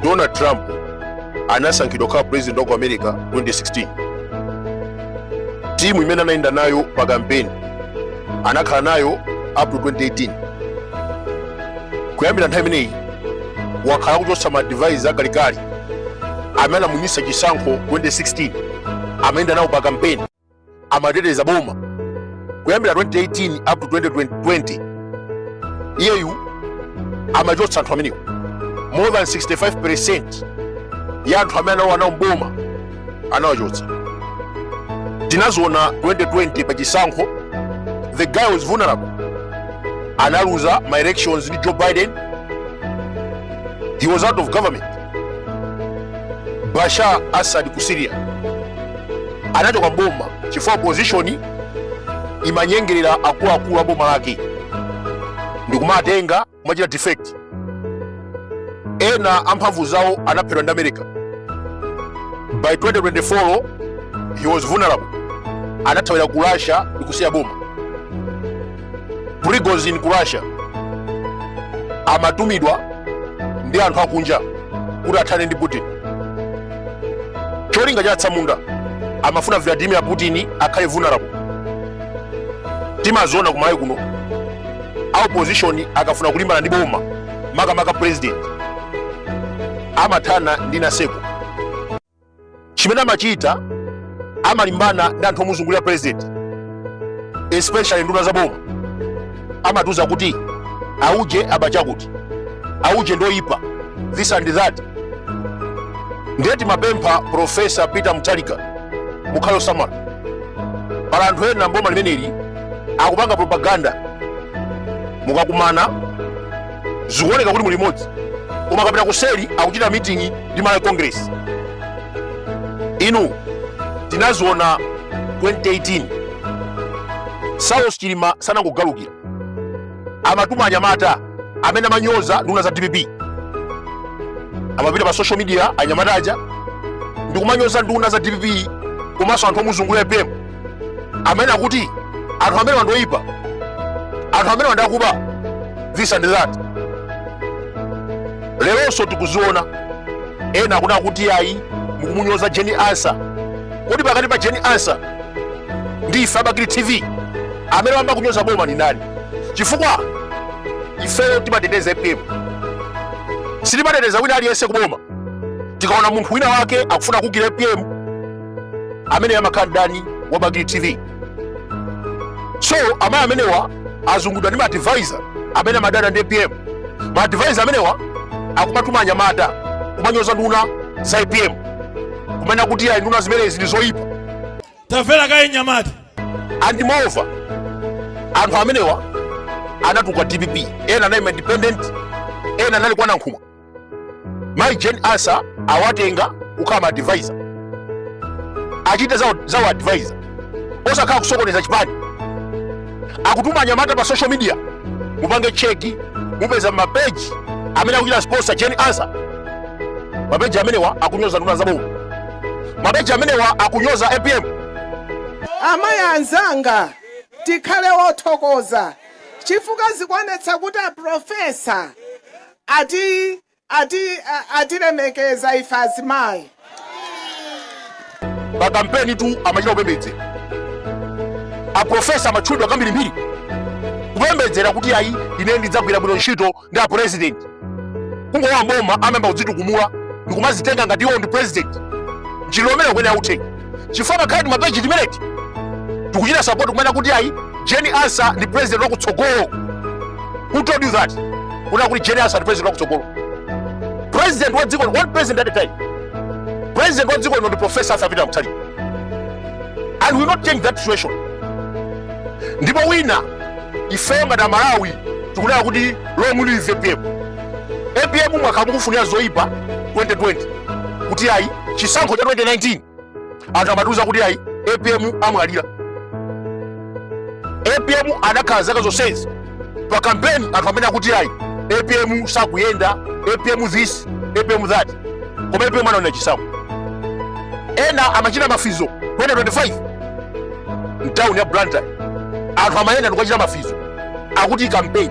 donald trump anasankhidwa kukhala president wa ku america 2016 timu imene anayenda nayo pa kampeni anakhala nayo up to 2018 kuyambira nthawi imeneyi wakhala akuchotsa ma advisor akalikali amene anamuwinitsa chisankho 2016 amayenda nawo pa kampeni amateteza boma kuyambira 2018 up to 2020 iyeyu amachotsa anthu amenewo more than 65 percent ya anthu amene analowa nawo mboma anawachotsa tinaziona 2020 pa chisankho the guy was vulnerable analuza ma elections ndi joe biden he was out of government Bashar Assad ku Syria anachoka mboma chifukwa opposition imanyengerera akuluakulu a boma lake ndikumatenga kumachita defect. Ena amphamvu zawo anaphedwa ndi America. By 2024 he was vulnerable, anathawira ku Russia ndikusiya boma. prigozhin ku russia amatumidwa ndi anthu akunja kuti athane ndi putin cholinga cha atsamunda amafuna vladimir putin akhale vulnerable timaziona kumalawi kuno a opposition akafuna kulimbana ndi boma makamaka president amathana ndi naseko chimene amachita amalimbana ndi anthu omuzungulira president especially nduna za boma amatiuza kuti auje waba chakuti auje ndi oyipa this and that ndiye timapempha profesa peter mutharika mukhale osamala pali anthu ena mboma limeneli akupanga propaganda mukakumana zikuoneka kuti muli limodzi koma akapita kuseri akuchita mitingi ndi malawi congress inu tinaziona 2018 saulos chilima sanangogalukira amatuma anyamata amene amanyoza nduna za dpp amapita pa social media anyamata aja ndikumanyoza nduna za dpp komanso anthu omuzungulira apm amene akuti anthu amenewa ndi oyipa anthu amenewa ndi akuba this and that leronso tikuziona ena akunena kuti ayi mukumunyoza jane ansah kodi pakati pa jane ansah ndi ife a bakili tv amene wayamba kunyoza boma ndi ndani chifukwa ifeyo timateteza apm sitimateteza wina aliyense kuboma tikaona munthu wina wake akufuna kuukira apm amene amakhala ndani wa Bakili TV so amayi amenewa azungulidwa ndi maadvisor amene amadana ndi apm maadvisor amenewa akumatuma anyamata kumanyoza nduna za apm kumanena kuti ayi nduna zimenezi ndi zoyipa tamvera kaye mnyamata and moreover anthu amenewa anatuluka dpp ena anaima independent ena anali kwa Nankhumwa mayi Jane Ansah awatenga kukhala ma advisor achite za u advisor osakhala kusokoneza chipani akutuma anyamata pa social media mupange cheki mupeza mapeji amene akuchita sponsor Jane Ansah mapeji amenewa akunyoza nduna za boma mapeji amenewa akunyoza apm amayi anzanga tikhale wothokoza chifukwa zikuonetsa kuti aprofesa atatilemekeza ife azimayi. pa kampenitu amachita kupembedzera aprofesa amatchulidwa kambirimbiri kupembedzera kuti ayi ine ndidzagwira bwino ntchito ndi apurezidenti kungolowa mboma amayamba kudzitukumula ndikumadzitenga ngati iwo ndi purezidenti njira umene kweni authenga chifukwa ngakhale timapeji timeneti tikuchita support kumanena kuti ayi Jane Ansah ndi president wakutsogolo who told you that kunena kuti Jane Ansah ndi president wakutsogolo president wa dziko one president at a time president wa dziko lino ndi professor arthur peter mutharika and we will not change that situation ndipo wina ifeyo ngati amalawi tikunena kuti long live apm apm mwakhala mukufunira zoyipa 2020 kuti ayi chisankho cha 2019 anthu amatiuza kuti ayi apm amwalira apm anakhala zaka zonsezi pa kampeni anthu amanena kuti ayi apm sakuyenda apm this apm that koma apm anawina chisankho ena amachita mafizo 2025 mtawuni ya blantyre anthu amayenda ndikukachita mafizo akuti kampeni